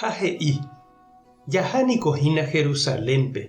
Ha he'i, Jaha niko hína Jerusalénpe,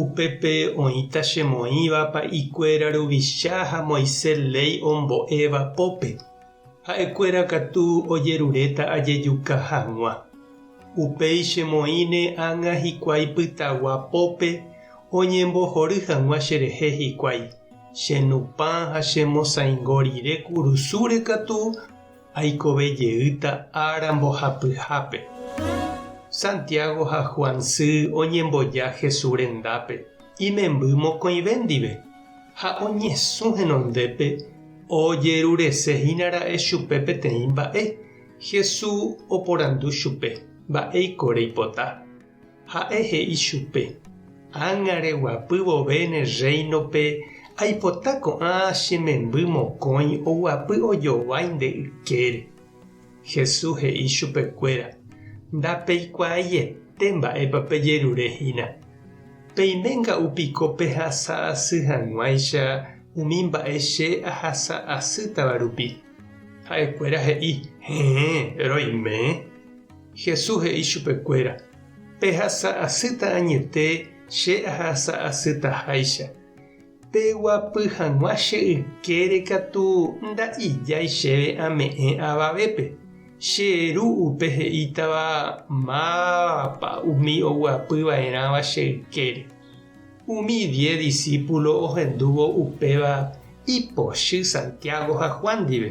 upépe oĩta chemoĩva pa'i kuéra ruvicha ha Moisés léi ombo'éva pópe, ha'e kuéra katu ojeruréta ajejuka haguã. Upéi chemoĩne ág̃a hikuái pytagua pópe oñembohory haguã cherehe hikuái, che nupã ha che mosaingo rire kurusúre katu, aikove jeýta ára mbohapyhápe. Santiago ha Juan sy oñemboja Jesús rendápe imemby mokõive ndive, ha oñesũ henondépe ojerurese hína ra'e chupe peteĩ mba'e. Jesús oporandu chupe, Mba'éiko reipota? Ha'e he'i chupe, Ág̃are guapy vove ne Rréinope aipota ko'ã che memby mokõi oguapy ojovái nde ykére. Jesús he'i chupe kuéra, Ndapeikuaaiete mba'épa pejerure hína. Peiménga upiko pehasa asy hag̃uáicha umi mba'e che ahasa asýtava rupi. Ha'e kuéra he'i, Héẽ, roime. Jesús he'i chupekuéra, Pehasa asýta añete che ahasa asýta háicha. Peguapy hag̃ua che ykére katu nda'ijái chéve ame'ẽ avavépe. Che Ru upe he'ítava mávapa umi oguapy va'erãva che ykére. Umi diez disípulo ohendúvo upéva ipochy Santiago ha Juan ndive.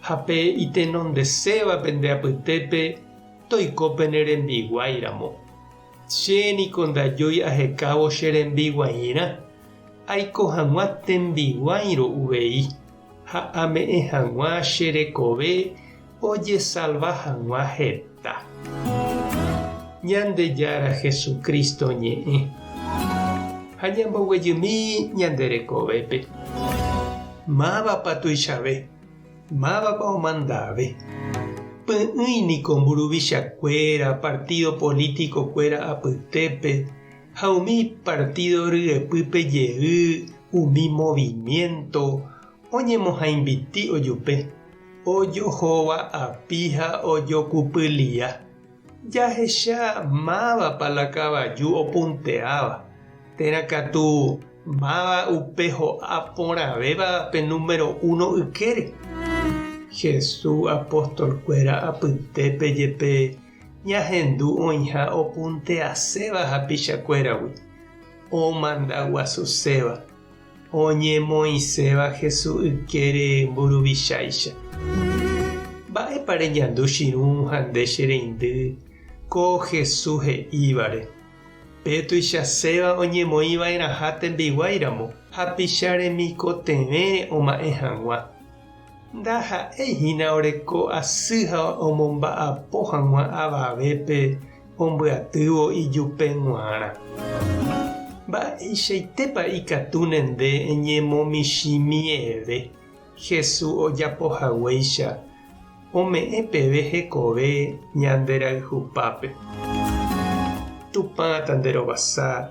Ha pe itenondesévape nde apytépe toiko pene rembiguái ramo. Che niko ndajói ahekávo che rembiguairã, aiko hag̃ua tembiguáirõ uvei, ha ame'ẽ hag̃ua che rekove ojesalva hag̃ua heta. Ñandejára Jesucristo ñe'ẽ. Ha ñamboguejymi ñande rekovépe. Mávapa tuichave Mávapa omandave? Py'ỹi niko mburuvichakuéra, partido político-kuéra apytépe ha umi partido ryepýpe jey, umi movimiento oñemohãimbiti ojupe, ojohova api ha ojokupylia. Jahecha mávapa la kavaju opunteáva, térã katu máva upe ho'a porãvéva pe número uno ykére. Jesús apóstolkuéra apytépe jepe ñahendu oĩha opunteaséva hapichakuéragui, omanda guasuséva. Oñemoĩséva Hesu ykére mburuvichaicha. Mba'épa reñandu chirũ ha nde che reindy ko Hesu he'ívare? Pe tuichaséva oñemoĩ vaerãha tembiguái ramo hapicha remikotevẽre oma'ẽ hag̃ua. Ndaha'éi hína oreko asy ha omomba'apo hag̃ua avavépe ombyatývo ijupe g̃uarã. Mba'eichaitépa ikatu ne nde eñemomichĩ miẽve Hesu ojapo haguéicha ome'ẽ peve hekove ñanderayhupápe. Tupã tanderovasa